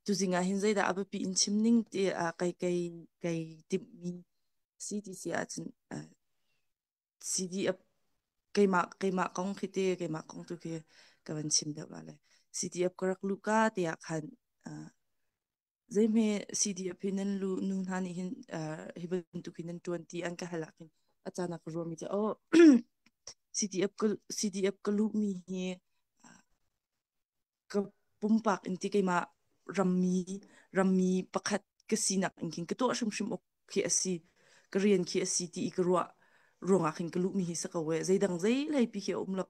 Tuzing ah hin zeidah a biapi in chim ning ti ah kai kai kai timhmi si ti si ahcun uh, CD a keimah keimah kong khi te keimah kong tu khi ka van chim deuh wale CD ap ka rak lu ka tiah khan uh, zeihme CD ap hin nan lu nu hna nih hin uh, hi bantuk hin nan tuanti an ka halak hin acanak ka ruami cu oh CD ap ka CD ap ka luhmi hi ka pumpak in ti keimah rammi rammi pakhat ka sinak in kin ka tuah hrimhrim ok khi asi ka rian khi asi ti i ka ruah ruangah khin ka lu mi hi saka we zeidang zei lei pi khi um lo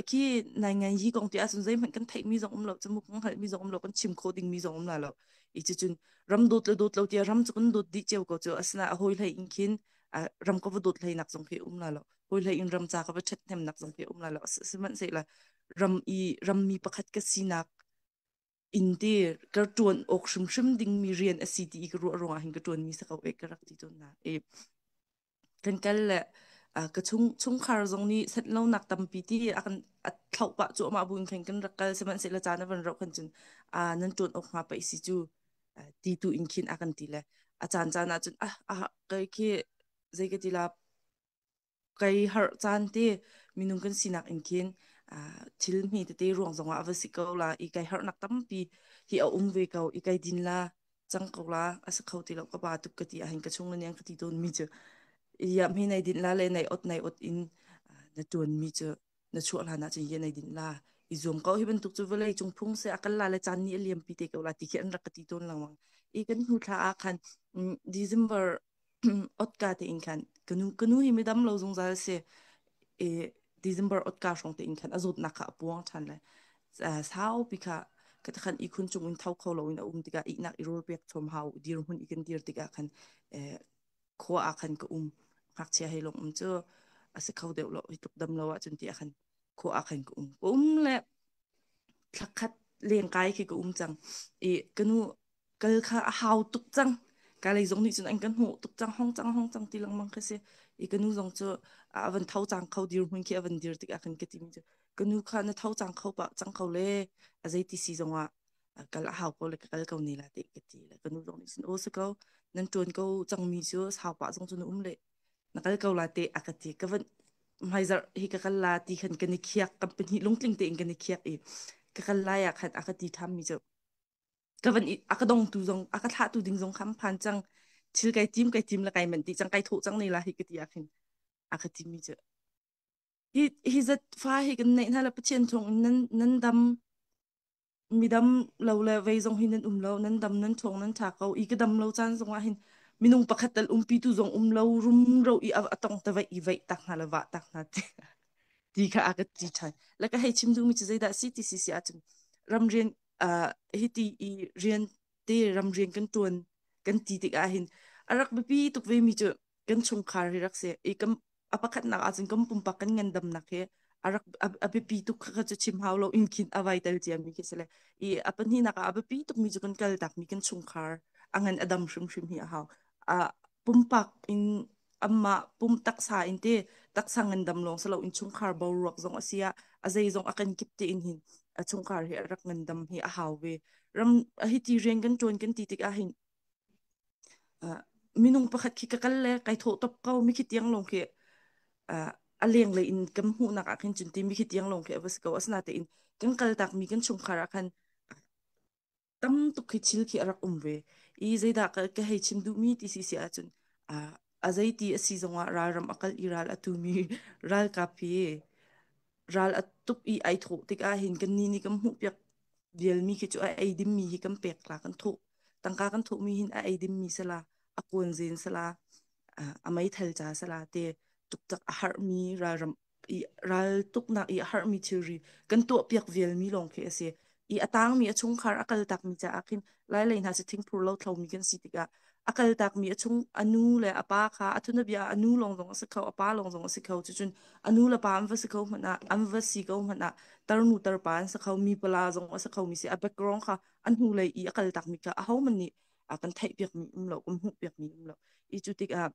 khi nai ngai hi kong ti asun zei hman kan theih mi zong um lo chamu kong hal mi zong um lo kan chim kho ding mi zong um la lo i chi chun ram dot le dot lo tia ram chu kan dot di cheu ko chu asna a hoi hlei in khin ram ko va dot hlei nak zong khi um la lo hoi hlei in ram cha ka va chat hem nak zong khi um la lo siman se la ram i rammi pakhat ka sinak in ti ka tuan ok hrimhrim ding mi rian asi ti ka ruah ruang hin ka tuan mi sakau ek ka rak ti ton na e kan kal le ka chung chung khar zong ni set lo nak tampi ti akan thlau pa chu ma buin khen kan rak kal seman se la cha na van ro khan chun a nan tuan ok ma pa isi chu ti tu in khin akan ti le a chan chan a chun ah a kai khi zeikatila kai har caan te minung kan sinak in khin ah, thil mi tete ruang zong ah va si ko la i kai harnak tampi hi a um ve ko i kai din la cang ko la asa kho ti lo ka ba tuk ka ti ahin ka chung la niang ka ti don mi chu ia mi nei din la le nei ot nei ot in ah, na tuan mi chu na chuah la na chu ye nei din la i zum ko hi bantuk chu vlei chung phung se akal la le chan ni liam pi te ko la ti khi an rak ka ti ton lawang i kan hnu thla a khan mm, December otka te in khan kanu kanu hi midam lo zungzal se e December otka hrong te in khan azot nak kha apuang than le sau pi kha kata khan ikhun chung in thau kho lo in aum tika iknak irol pek chom hau dir hun ikan dir tika khan khoa a khan ka um ngak chia hei long um chu ase kho deuh lo hituk dam lo a chun ti a khan kho a khan ka um ko um le thakhat leng kai khi ka um chang i kanu kal kha a hau tuk cang ka lei zong nih cun an kan hmuh tuk cang hong cang hong cang ti lengmang kha si i ka nu zong cu a van tho cang kho dir hmun khi a van dir tik ah khan ka ti mi cu ka nu kha na tho cang kho pa cang kho le a zei ti si zong ah kal a hau ko le ka kal ko ne la te ka ti le ka nu zong nih cun o su ko nan tuan ko cang mi cu sau pa zong cu na um le na kal ko la te a ka ti ka van hmaizarh hi ka kal la ti khan kan i khiak kan pahnih lungtling te in kan i khiak i ka kal lai ah khan a ka ti tham mi cu ka van a ka dong tu zong a ka thlah tu ding zong kham phan chang thil kai tim kai tim la kai man ti chang kai tho chang nei la hi ka ti akhin a ka ti mi chu hi hi zat fa hi kan nei na la pathian thong nan nan dam midam lo le vei zong hi nan um lo nan dam nan thong nan tha ko i ka dam lo chan zong ah hin minung pakhat tal umpi tu zong um lo rum ro i atong ta vai i vai tak na la wa tak na ti ti kha a ka ti than la ka hei chim du mi chu zei da si ti si si a chun ram rian uh, hiti i rian te ram rian kan tuan kan ti tik ah hin arak bipi tuk ve mi cu kan chungkhar hi rak se i kam apakhat nak ah cun kam pumpak kan ngandam nak he arak abipi tuk kha chu chim hau lo in khin avai tel cia mi khi sele i apan hi nak ah abipi tuk mi chu kan kal tak mi kan chungkhar angan adam hrim hrim hi a hau a pumpak in amma pum taksa in te taksa ngandam long salo in chungkhar bo ruak zong asia a zei zong akan kip te in hin a chungkhar hi rak ngandam hi a hawe ram hi ti rian kan tuan kan ti tik a hin minung pakhat khi ka kal le kai tho top kau mi khi tiang long khi a leng le in kan mu nak a khin chun ti mi khi tiang long khi abas ko asna te in kan kal tak mi kan chungkhar a khan tam tuk khi thil khi a rak um ve i zeidah ka, ka hei chim duhmi ti si si ahcun a a zeiti a si zongah ralram a kal i ral a tumi ralkap hi ral a tuk i ai thawh tikah hin kan ni nih kan hmuhpiak vialmi khi cu a ei dimmi hi kan pek la kan thawh tangka kan thawhmi hin a ei dimmi sala a kuan zen sala a meithal ca sala te tuktak a harhmi ralram i ral tuknak i a harmi thilri kan tuahpiak vialmi lawng khi a si i a tangmi a chungkhar a kal takmi caah khin lailei hna cu thingphur lo thlomi kan si tikah a kal takmi a chung a nu le a pa kha a thunabia a nu lawng zong a si kho a pa lawng zong a si kho cucun a nu le pa an va si kho hmanh ah an va si ko hmanh ah tarnu tarpa an si kho mi pala zong a si kho mi si a background kha a hnulei i a kal takmi kha a homan nih a kan theihpiakmi um lo kan hmuhpiakmi um lo i cu tikah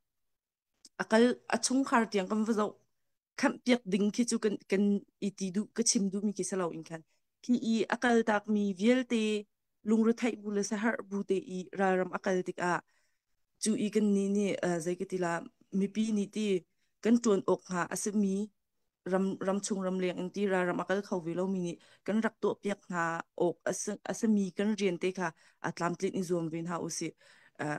a kal a chungkhar tiang kan va zoh khamh piak ding khi cu kan kan i ti duh ka chim duhmi khi salo in khan khi i a kal tak mi vialte lungretheih bu le sahar bu te i ralram a kal tik ah cu i kan ni nih uh, zei katila mipi ni ti kan tuan ok nga asimi ram ram chung ram leng in ti ra ram akal kho ve lo mi ni kan rak to piak nga ok asami kan rian te kha atlam tlin i zuam ve na usi uh,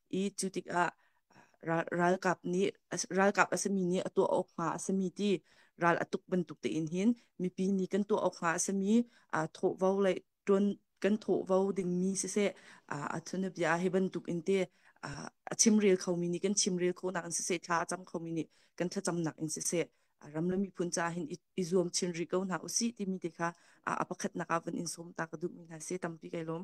i cu tikah ralkap nih ralkap a sami nih a tuah awk hnga a sami ti ral a tuk bantuk tein hin mipi nih kan tuah awk hnga a sami thawhvo lei tuan kan thawhvo dingmi siseh a chunabia hi bantuk in te a chimrel khomi nih kan chimrel khonak in siseh thla a cam khomi nih kan thlacamnak in siseh ram le miphun ca hin i zuam chin rih ko hna usi timi te kha a pakhatnak ah van in sawm ta ka duhmi hna se tampi kai lawm